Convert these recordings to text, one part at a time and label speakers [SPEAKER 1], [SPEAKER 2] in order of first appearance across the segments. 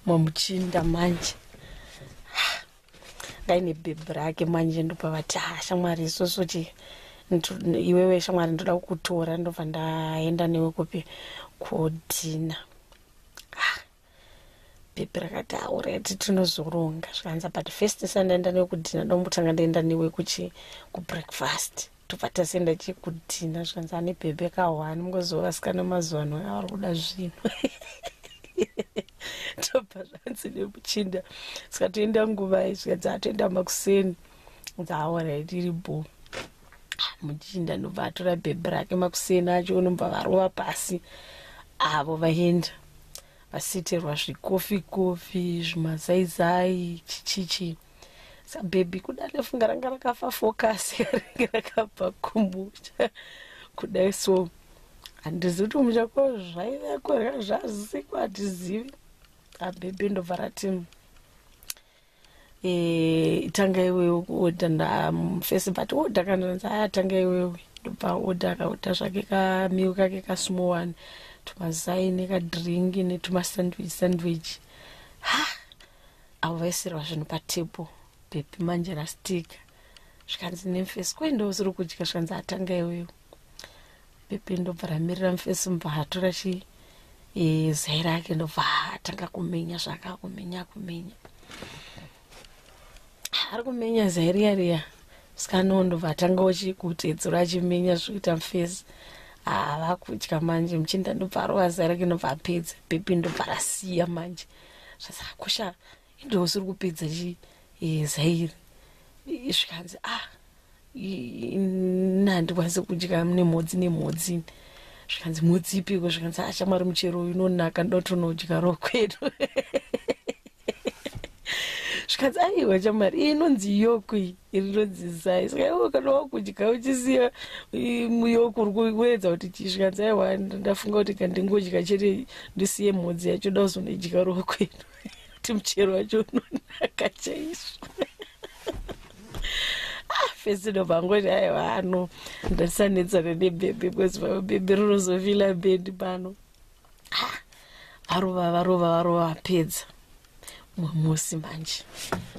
[SPEAKER 1] mamuchinda manje ndaine bhebhi rake manje ndopa vati ha shamwari isusu ti iwewe shamwari ndoda kukutora ndobva ndaenda newe kupi kodhina bhebhi rakati aureti tinozoronga zvikanza but first sandaenda newe kudhina ndomutanga ndaenda newe kuchi kubreakfast tobva tasenda chekutina zvikanzi ane bhebhe kahwani mungoziva vasikana mazuva ano avari kuda zvinhu tobva zvanzi nemuchinda saka toenda nguvai zvikanzi atoenda makuseni dzaaorit iri bo muchinda ndobva atora bhebhe rake makuseni acho unobva varova pasi avo vaenda vasitirwa zvikofi kofi zvimazaizai chichichii sa baby kudale funga ranga rakafa focus yaringe rakabva kumusha kudai so handizivi kuti kumusha ko zvaiveko hra zvaziko hatizivi abebe ndobva rati eh, tanga iwewe kuoda ndafesi but oda kandanzi aya tanga iwewe ndobva oda akaoda zvake kamiwi kake kasmall one tumazaini kadringi netumasandwich sandwich ha avo vaisirwa zvinhu patable pepi manje rastika zvikanzi nemfesi kwai ndousiri kudya zvikanzi atanga iwewo pepi ndobva ramirira mfesi mubva atora chi e, zai rake ndobva atanga kumenya zvaaka kumenya kumenya ari kumenya zai riya riya sikanowo ndobva atanga uchi kutedzura achimenya zvikuita mfesi ava kudya manje muchinda ndobva arova zai rake ndobva apedza pepi ndobva rasiya manje zvasakosha indosi uri kupedza chi eh, zairi zvikanzi ah nandikwanise kudya nemhodzi nemhodzi zvikanzi mhodzi ipiko zvikanzi achamwari ah, muchero uyu unonaka ndotonodya ro kwedu zvikanzi aiwa chamari inonzi yokwi iri ndodzidzisai saka iwe kana wakudya uchisiya muyo kuri kuedza kuti chisvikanza aiwa ndafunga kuti kandingodya chete ndisiye mhodzi yacho da kuzonodya roho kwedu kuti muchero wacho unonaka chaizvo ah, fesino vangoti aiwa ano ndatisanetsana nebebe because bebe rinozovila bedi pano varova varova varova vapedza mumwe musi manje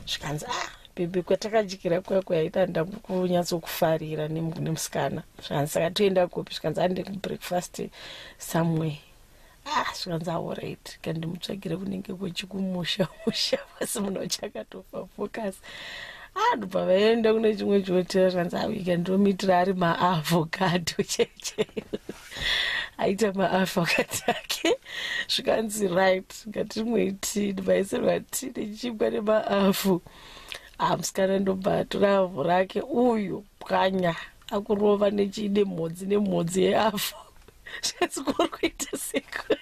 [SPEAKER 1] zvikanzi ah bebe kwatakadyira kuya kuyaita nda kunyatsokufarira nemusikana zvikanzi saka toenda kupi zvikanzi ande kubreakfast somewhere ah zvikanzi aorit kandimutsvagire kunenge kwechikumusha musha asi muno chakatofa focus ah ndobva vaenda kune chimwe chihotera zvikanzi aika ah, ndomitira ari maavocado checheyo aita maafa wakati ake zvikanzi right ngatimwiti ndibaise vati nechibwa nemaafu ah musikana ndobva atora avhu rake uyu pwanya akurova nechiine mhodzi nemhodzi yeavhu zvikanzi kuri kuita seko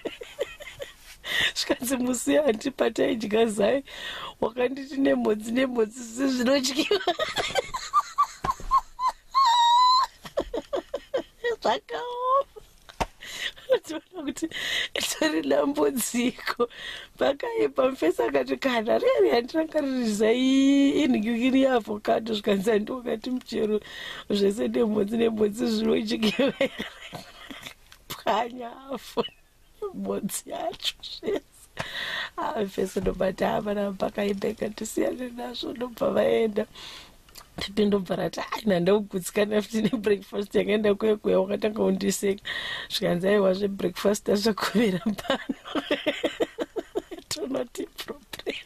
[SPEAKER 1] zvikanzi musi hanti pataidya zai wakanditi nemhodzi nemhodzi zvinodyiwa zvakaoma unoona kuti itori dambudziko pakaipa mufesi akati kana riri handinanga riri zaiinhikirikiri yeavhokado zvikanzi handiokati muchero zvese nemhodzi nemhodzi zvinojikevera pwanya afo mhodzi yacho zvese avese ndobati avana pakaendeka tisiyane nazvo ndobva vaenda tete ndobva rati ai nandaugutsikana futi nebreakfast yakaenda kuye kuya wakatanga undiseka zvikanzi aiwa zvebreakfast azvakovera pano tonoti problem